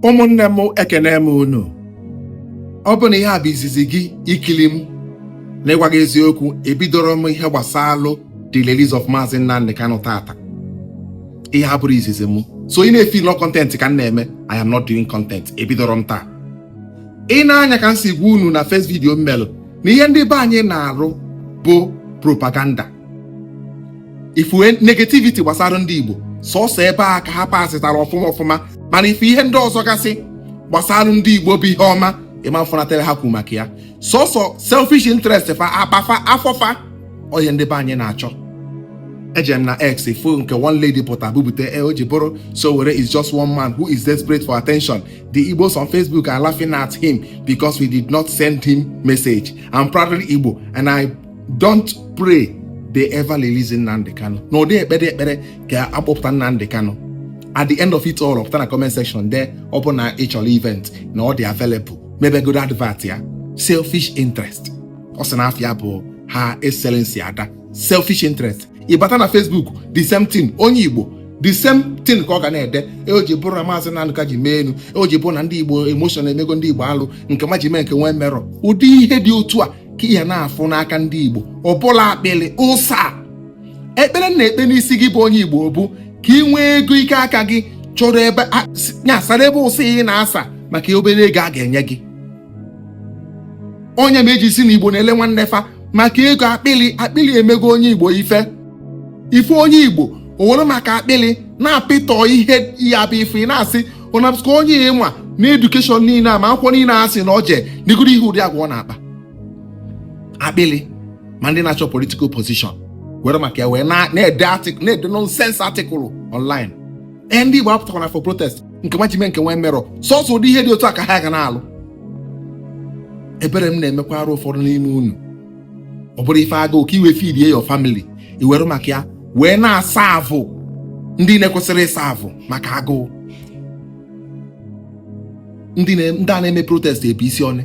ụmụnne m ekene m unu ọ bụ na ihe a bụ izizi gị ikili m na ịgwa gị eziokwu ebidoro m ihe gbasalụ the release of Maazị Nnamdi Kanu tata ihe a bụrụ izizi m so ị na-efeel na ọ content ka m na-eme I am not doing content ebidoro m taa ị na-anya ka m si gwa unu na first video m melụ na ihe ndị be anyị na-arụ bụ propaganda ị fụ negativity gbasara ndị Igbo sọsọ ebe a ka ha pasịtara ọfụma ọfụma mana ị fụ ihe ndị ọzọ gasị gbasara ndị Igbo bụ ihe ọma ịma mfụnatara ha kwuru maka ya sọsọ selfish interest fa akpa fa afọ fa ọ ihe ndị be anyị na-achọ eje m na X fụ nke one lady pụta bubute e o ji bụrụ Sowore is just one man who is desperate for attention the igbos on facebook are laughing at him because we did not send him message i'm proudly igbo and i don't pray they ever release Nnamdi Kanu na ọ dị ekpe ekpere ka a kpọpụta Nnamdi Kanu at the end of it all pụta na comment section de ọ bụ na ị chọrọ event na ọ dị available mebegodo advert ya selfish interest ọ sị na afa ya bụ Her Excellency Ada selfish interest ị bata na Facebook the same thing onye Igbo the same thing ka ọ ga na-ede e o ji bụrụ na maazị Nnamdi ji mee enu e o ji bụrụ na ndị Igbo emotion emego ndị Igbo alụ nke ma ji mee nke nwee merọ ụdị ihe dị otu a ka ị ya na-afụ n'aka ndị Igbo ọbụla akpịlị ụsa ekpele m na-ekpe n'isi gị bụ onye Igbo bụ ka ị nwee ego ike aka gị chọrọ ebe nyasara ebe ụsa ị na-asa maka obere ego a ga-enye gị ọ nya mee e ji sị na Igbo na-ele nwanne fa maka ego akpịlị akpịlị emego onye Igbo ife ife onye Igbo o were maka akpịlị na-apịtọ ihe ya bụ ife ị na-asị ọ na-abụsị ka onye nwa a na education niile a ma akwụkwọ niile a sị na o jee neegodi ihe ụdị agwa ọ na-akpa akpịlị ma ndị na-achọ political position were maka ya wee na- na-ede artic- na-ede nonsense article online ee ndị Igbo apụtakwana for protest nke ma jime nke nwee merọ sọsọ ụdị ihe dị otu a ka ha ga na-alụ ebere m na-emekwara ụfọdụ n'ime unu ọ bụrụ ife agụụ ka i wee feedie your family i were maka ya wee na-asa avụ ndị na-ekwesịrị ịsa avụ maka agụụ ndị a na-eme protest ebe isi ọnụ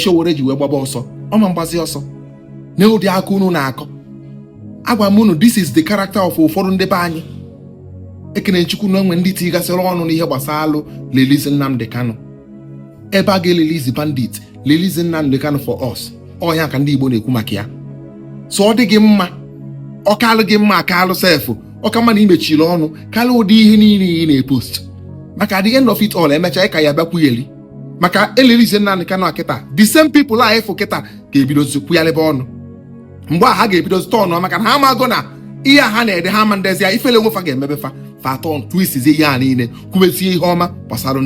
Sowore ji wee gbaba ọsọ ọ ma gbazi ọsọ na ụdị aka unu na-akọ agwa m unu this is the character of ụfọdụ ndị be anyị ekene Chukwu na e nwere ndị tigasịrị ọnụ n'ihe gbasalụ release Nnamdi Kanu ebe a ga-erelease bandit release Nnamdi Kanu for us ọ ihe a ka ndị Igbo na-ekwu maka ya so ọ dị gị mma ọ kalụ gị mma ọ kalụ sef ọ ka mma na i mechiri ọnụ kalịa ụdị ihe niile ị na-epost maka at the end of it all e mecha ị ka ya bịakwugheli maka e release Nnamdi Kanu kịta the same people a ị fụ kịta ga-ebidozi kwuyalebe ọnụ mgbe a ha ga-ebidozi turn maka na ha amago na ihe a ha na-ede ha ama-edezi ya ifele onwe fa ga-emebe fa fa turn twist ihe a niile kwubezie ihe ọma gbasara ndị